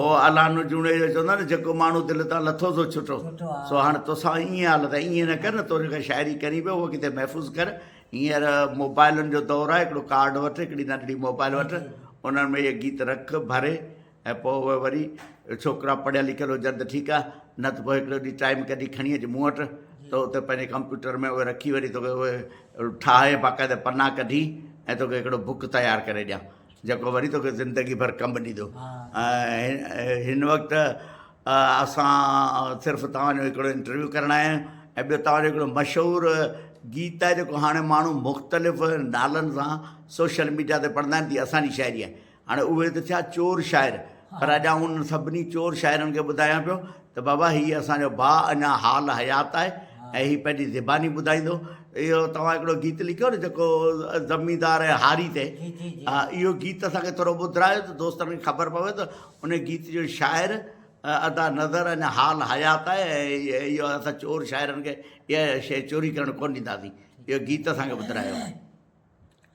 او الانو جوڻيجو چوندو آهي نه جيڪو ماڻهو دل تان لٿو سو ڇٽو سو هاڻي توسان ائين حالت آهي ائين نه ڪر نه تون جيڪا شاعري ڪرين پيو اهو ڪٿي محفوظ ڪر هينئر موبائلن جو دور آهي هڪڙو ڪارڊ وٺ هڪڙي ننڍڙي موبائل وٺ انهن ۾ اهي گيت رک ڀري ۽ پوء اهي وري ڇوڪرا پڙهيل لکيل هجن ته ٺيڪ آهي نه ته پوء هڪڙو ڏينهن ٽائيم ڪڍي کڻي اچ مون وٽ ته اتي پنهنجي ڪمپيوٽر ۾ اهي رکي وري توکي اهي ٺاهي باقاعده پنا ڪڍي ۽ توکي هڪڙو بڪ تيار ڪري ڏيان جيڪو وري توکي زندگي ڀر ڪم ڏيندو ۽ هن وقت اسان صرف توهان جو هڪڙو انٽرويو ڪرڻ آيا آهيون ۽ ٻيو توهان جو هڪڙو مشهور گيت آهي جيڪو هاڻي ماڻهو مختلف نالن سان سوشل ميڊيا تي پڙهندا آهن تي اسان جي شاعري آهي هاڻي اهي ته ٿيا چور شاعر پر اڄ آئون انهن سڀني چور شاعرن کي ٻڌايان پيو ته بابا هي اسان جو ڀاء اڃا حال حيات آهي ۽ هي پنهنجي زباني ٻڌائيندو. اهو توهان هڪڙو گيت لکيو نه جيڪو زميندار ۽ هاري تي ها اهو گيت اسان کي ٿورو ٻڌرايو ته دوستن کي خبر پوي ته ان گيت جو شاعر ادا نظر اڃا حال حيات آهي ۽ اهو اسان چور شاعرن کي اها شيء چوري ڪرڻ ڪونه ڏينداسين اهو گيت اسان کي ٻڌرايو.